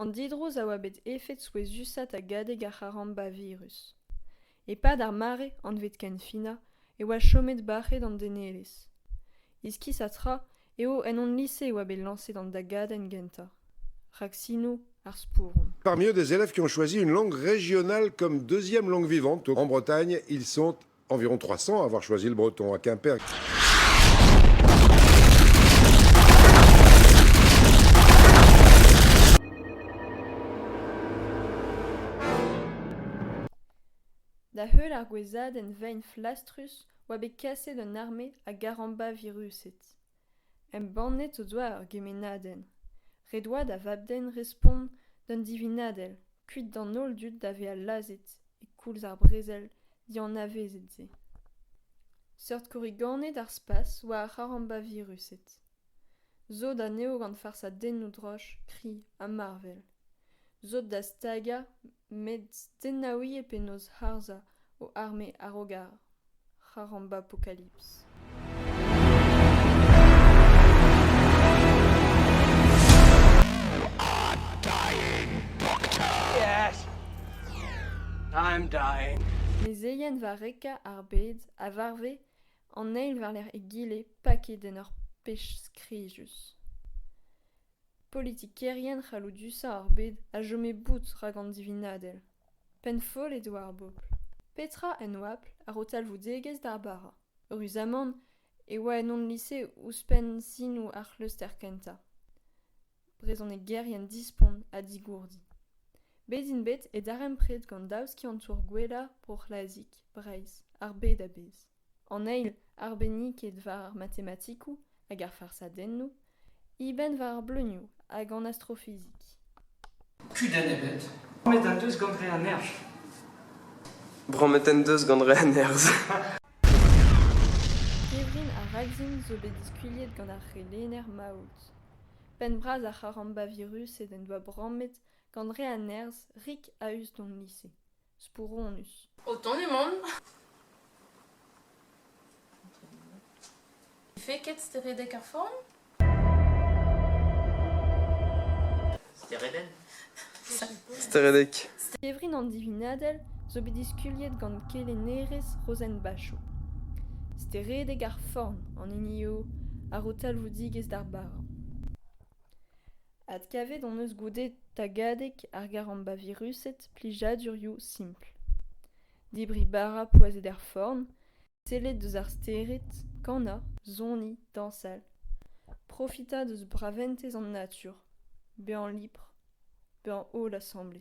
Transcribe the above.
An didrouz a oa bet efed souezhusat a gade gant c'haramba virus. E-pad ar mare, anvet kenfinañ, e oa chomet bac'het an denelezh. Iskis ha tra eo en hon lise e oa bet lañset an dagadenn gentañ. Rak sino ar spouron. Parmi eux des élèves qui ont choisi une langue régionale comme deuxième langue vivante. En Bretagne, ils sont environ 300 à avoir choisi le breton à Quimper. Da heul ar gouezadenn vein flastrus oa bet kaset an arme a garamba viruset. embannet o doa ur gemennadenn ret oa da vab-den respont d'un divinadell kuit d'an holl dud da vezañ lazhet e koulz ar brezel dianavezet se seurt korriganed ar spas oa ar c'harambavirused sot anezho gant farsadennoù droch kri ha marvel sot da stagañ met tennaouit eo penaos harzhañ ho arme a-raok ar c'harambapokalips mezeien varrekañ ar bed a varve an eil war-lerc'h egile paket en ur pech skrijus politikerien c'halloudusañ ar bed a chome bout rak an divinadell penn-foll eo ar bobl petra en oabl a-raok talvoudegezh d'ar bara ruzamant e oa en hon lise ouzhpenn sinoù ar c'hleustr kentañ brezhonegerien dispont ha digourdi bet int bet e darempred gant daou skiantour gwellañ bro c'hlazik breizh ar bed a-bezh an eil arbenniked war ar matematikoù hag ar farsadennoù eben war ar bleunioù hag an astrofizik Kudenn ebet. Bromet en deus gant re a nerzh. Bromet en deus gant re a nerzh. Kevrin ha Ragzin zo bet diskuilhet gant ar c'helenner Maout. Penn-bras ar c'haramba-virus ed en doa bromet gant re a nerzh rik a-us d'hon lise. spouronus. O tont emaon.Fe ket steredek ar forn? Steredenn Steredek. Kevrin an divinadell zo bet diskuliet gant kelennerez Rozenn Bachot. Steredek ar forn an hini eo a ro talvoudigezh d'ar bara. Adkavet hon eus goude tagadeg ar garambaviruset plijadurioù simpl. Debriñ bara poazhet er forn, sellet deus ar stered, kanañ, soniñ, dañsal. Profitañ deus braventez an natur, bezañ libr, bezañ holl asambles.